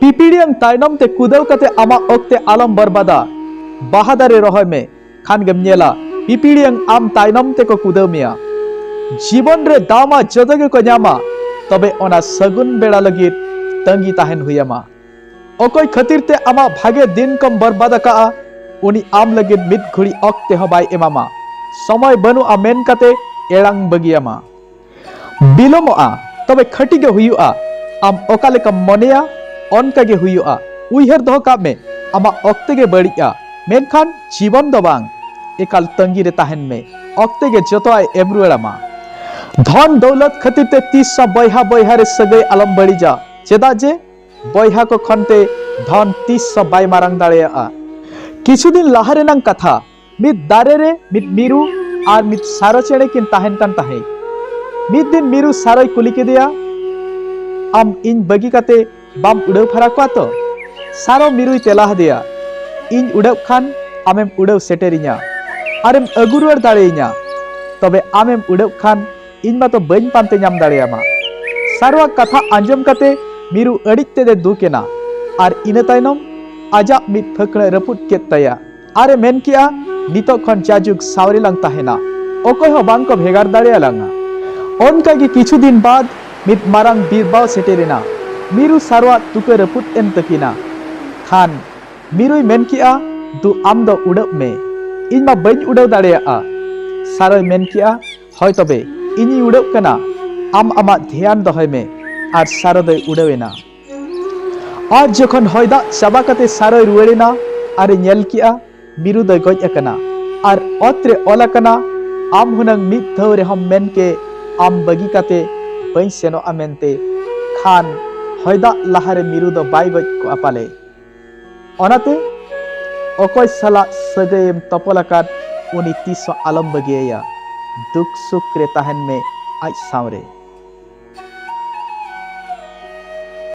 ᱯᱤᱯᱤᱲᱤᱭᱟᱝ ᱛᱟᱭᱱᱚᱢ ᱛᱮ ᱠᱩᱫᱟᱹᱣ ᱠᱟᱛᱮ ᱟᱢᱟᱜ ᱚᱠᱛᱮ ᱟᱞᱚᱢ ᱵᱚᱨᱵᱟᱫᱟ ᱵᱟᱦᱟ ᱫᱟᱨᱮ ᱨᱚᱦᱚᱭ ᱢᱮ ᱠᱷᱟᱱ ᱜᱮᱢ ᱧᱮᱞᱟ ᱯᱤᱯᱤᱲᱤᱭᱟᱝ ᱟᱢ ᱛᱟᱭᱱᱚᱢ ᱛᱮᱠᱚ ᱠᱩᱫᱟᱹᱣ ᱢᱮᱭᱟ ᱡᱤᱵᱚᱱ ᱨᱮ ᱫᱟᱣᱢᱟ ᱡᱚᱛᱚ ᱜᱮᱠᱚ ᱧᱟᱢᱟ ᱛᱚᱵᱮ ᱚᱱᱟ ᱥᱟᱹᱜᱩᱱ ᱵᱮᱲᱟ ᱞᱟᱹᱜᱤᱫ ᱛᱟᱺᱜᱤ ᱛᱟᱦᱮᱱ ᱦᱩᱭᱟᱢᱟ ᱚᱠᱚᱭ ᱠᱷᱟᱹᱛᱤᱨ ᱛᱮ ᱟᱢᱟᱜ ᱵᱷᱟᱜᱮ ᱫᱤᱱ ᱠᱚᱢ ᱵᱚᱨᱵᱟᱫ ᱟᱠᱟᱜᱼᱟ ᱩᱱᱤ ᱟᱢ ᱞᱟᱹᱜᱤᱫ ᱢᱤᱫ ᱜᱷᱩᱲᱤ ᱚᱠᱛᱮ ᱦᱚᱸ ᱵᱟᱭ ᱮᱢᱟᱢᱟ ᱥᱚᱢᱚᱭ ᱵᱟᱹᱱᱩᱜᱼᱟ ᱢᱮᱱ ᱠᱟᱛᱮ ᱮᱲᱟᱝ ᱵᱟᱹᱜᱤᱭᱟᱢᱟ ᱵᱤᱞᱚᱢᱚᱜᱼᱟ ᱛᱚᱵᱮ ᱠᱷᱟᱹᱴᱤ ᱜᱮ ᱦᱩᱭᱩᱜᱼᱟ ᱟᱢ ᱚᱠᱟ ᱞᱮᱠᱟᱢ ᱢᱚᱱᱮᱭᱟ ᱚᱱᱠᱟ ᱜᱮ ᱦᱩᱭᱩᱜᱼᱟ ᱩᱭᱦᱟᱹᱨ ᱫᱚᱦᱚ ᱠᱟᱜ ᱢᱮ ᱟᱢᱟᱜ ᱚᱠᱛᱮ ᱜᱮ ᱵᱟᱹᱲᱤᱡᱼᱟ ᱢᱮᱱᱠᱷᱟᱱ ᱡᱤᱵᱚᱱ ᱫᱚ ᱵᱟᱝ ᱮᱠᱟᱞ ᱛᱟᱺᱜᱤ ᱨᱮ ᱛᱟᱦᱮᱱ ᱢᱮ ᱚᱠᱛᱮ ᱜᱮ ᱡᱚᱛᱚ ᱟᱡ ᱮᱢ ᱨᱩᱣᱟᱹᱲ ᱟᱢᱟ ᱫᱷᱚᱱ ᱫᱚᱣᱞᱚᱛ ᱠᱷᱟᱹᱛᱤᱨ ᱛᱮ ᱛᱤᱥ ᱥᱟ ᱵᱚᱭᱦᱟ ᱵᱚᱭᱦᱟ ᱨᱮ ᱥᱟᱹᱜᱟᱹᱭ ᱟᱞᱚᱢ ᱵᱟᱹᱲᱤᱡᱟ ᱪᱮᱫᱟᱜ ᱡᱮ ᱵᱚᱭᱦᱟ ᱠᱚ ᱠᱷᱚᱱ ᱛᱮ ᱫᱷᱚᱱ ᱛᱤᱥ ᱥᱟ ᱵᱟᱭ ᱢᱟᱨᱟᱝ ᱫᱟᱲᱮᱭᱟᱜᱼᱟ ᱠᱤᱪᱷᱩ ᱫᱤᱱ ᱞᱟᱦᱟ ᱨᱮᱱᱟᱝ ᱠᱟᱛᱷᱟ ᱢᱤᱫ ᱫᱟᱨᱮ ᱨᱮ ᱢᱤᱫ ᱢᱤᱨᱩ ᱟᱨ ᱢᱤᱫ ᱥᱟᱨᱚ ᱪᱮᱬᱮ ᱠᱤᱱ ᱛᱟᱦᱮᱱ ᱠᱟᱱ ᱛᱟᱦᱮᱸᱫ ᱢᱤᱫ ᱫᱤᱱ ᱢᱤᱨᱩ ᱥᱟᱨᱚᱭ ᱠᱩᱞᱤ ᱠᱮᱫᱮᱭᱟ ᱟᱢ ᱤᱧ ᱵᱟᱹᱜᱤ ᱠᱟᱛᱮ ᱵᱟᱢ ᱩᱰᱟᱹᱣ ᱯᱷᱟᱨᱟ ᱠᱚᱣᱟ ᱛᱚ ᱥᱟᱨᱚ ᱢᱤᱨᱩᱭ ᱛᱮᱞᱟ ᱦᱟᱫᱮᱭᱟ ᱤᱧ ᱩᱰᱟᱹᱜ ᱠᱷᱟᱱ ᱟᱢᱮᱢ ᱩᱰᱟᱹᱣ ᱥᱮᱴᱮᱨᱤᱧᱟ ᱟᱨᱮᱢ ᱟᱹᱜᱩ ᱨᱩᱣᱟᱹᱲ ᱫᱟᱲᱮᱭᱤᱧᱟ ᱛᱚᱵᱮ ᱟᱢᱮᱢ ᱩᱰᱟᱹᱜ ᱠᱷᱟᱱ ᱤᱧ ᱢᱟᱛᱚ ᱵᱟᱹᱧ ᱯᱟᱱᱛᱮ ᱧᱟᱢ ᱫᱟᱲᱮᱭᱟᱢᱟ ᱥᱟᱨᱚᱣᱟᱜ ᱠᱟᱛᱷᱟ ᱟᱸᱡᱚᱢ ᱠᱟᱛᱮ ᱢᱤᱨᱩ ᱟᱹᱰᱤᱡ ᱛᱮᱫᱮ ᱫᱩᱠ ᱮᱱᱟ ᱟᱨ ᱤᱱᱟᱹ ᱛᱟᱭᱱᱚᱢ ᱟᱡᱟᱜ ᱢᱤᱫ ᱯᱷᱟᱹᱠᱲᱟᱹ ᱨᱟᱹᱯᱩᱫ ᱠᱮᱫ ᱛᱟᱭᱟ ᱟᱨ ᱮ ᱢᱮᱱ ᱠᱮᱜᱼᱟ, ᱱᱤᱛᱚᱜ ᱠᱷᱚᱱ ᱡᱟᱡᱩᱜᱽ ᱥᱟᱶ ᱨᱮ ᱞᱟᱝ ᱛᱟᱦᱮᱸᱱᱟ, ᱚᱠᱚᱭ ᱦᱚᱸ ᱵᱟᱝ ᱠᱚ ᱵᱷᱮᱜᱟᱨ ᱫᱟᱲᱮ ᱟᱞᱟᱝᱼᱟ᱾ ᱚᱱᱠᱟ ᱜᱮ ᱠᱤᱪᱷᱩ ᱫᱤᱱ ᱵᱟᱫᱽ ᱢᱤᱫ ᱢᱟᱨᱟᱝ ᱵᱤᱨᱵᱟᱣ ᱥᱮᱴᱮᱨ ᱮᱱᱟ᱾ ᱢᱤᱨᱩ ᱥᱟᱨᱣᱟᱜ ᱛᱩᱠᱟᱹ ᱨᱟᱹᱯᱩᱫ ᱮᱱ ᱛᱟᱹᱠᱤᱱᱟ᱾ ᱠᱷᱟᱱ ᱢᱤᱨᱩᱭ ᱢᱮᱱ ᱠᱮᱜᱼᱟ, ᱫᱩ ᱟᱢ ᱫᱚ ᱩᱰᱟᱹᱜ ᱢᱮ, ᱤᱧ ᱢᱟ ᱵᱟᱹᱧ ᱩᱰᱟᱹᱣ ᱫᱟᱲᱮᱭᱟᱜᱼᱟ᱾ ᱥᱟᱨᱚᱭ ᱢᱮᱱ ᱠᱮᱜᱼᱟ, ᱦᱚᱭ ᱛᱚᱵᱮ, ᱤᱧᱤᱧ ᱩᱰᱟᱹᱜ ᱠᱟᱱᱟ, ᱟᱢ ᱟᱢᱟᱜ ᱫᱷᱮᱭᱟᱱ ᱫᱚᱦᱚᱭ ᱢᱮ᱾ ᱟᱨ ᱥᱟᱨᱚ ᱫᱚᱭ ᱩᱰᱟᱹᱣ ᱮᱱᱟ᱾ ᱟᱡ ᱡᱚᱠᱷᱚᱱ ᱦᱚᱭ ᱫᱟᱜ ᱪᱟᱵᱟ ᱠᱟᱛᱮ ᱥᱟᱨᱚᱭ ᱨᱩᱣᱟᱹᱲ ᱮᱱᱟ ᱟᱨ ᱮ ᱧᱮᱞ ᱠᱮᱜᱼᱟ ᱢᱤᱨᱩ ᱫᱚᱭ ᱜᱚᱡ ᱟᱠᱟᱱᱟ ᱟᱨ ᱚᱛ ᱨᱮ ᱚᱞ ᱟᱠᱟᱱᱟ ᱟᱢ ᱦᱩᱱᱟᱹᱝ ᱢᱤᱫ ᱫᱷᱟᱣ ᱨᱮᱦᱚᱸᱢ ᱢᱮᱱ ᱠᱮ ᱟᱢ ᱵᱟᱹᱜᱤ ᱠᱟᱛᱮ ᱵᱟᱹᱧ ᱥᱮᱱᱚᱜᱼᱟ ᱢᱮᱱᱛᱮ ᱠᱷᱟᱱ ᱦᱚᱭ ᱫᱟᱜ ᱞᱟᱦᱟ ᱨᱮ ᱢᱤᱨᱩ ᱫᱚ ᱵᱟᱭ ᱜᱚᱡ ᱠᱚᱜᱼᱟ ᱯᱟᱞᱮ ᱚᱱᱟᱛᱮ ᱚᱠᱚᱭ ᱥᱟᱞᱟᱜ ᱥᱟᱹᱜᱟᱹᱭ ᱮᱢ ᱛᱚᱯᱚᱞ ᱟᱠᱟᱫ ᱩᱱᱤ ᱛᱤᱥ ᱦᱚᱸ ᱟᱞᱚᱢ ᱵᱟᱹᱜᱤᱭᱟᱭᱟ ᱫᱩᱠ ᱥᱩᱠ ᱨᱮ ᱛᱟᱦᱮᱱ ᱢᱮ ᱟᱡ ᱥᱟᱶ ᱨᱮ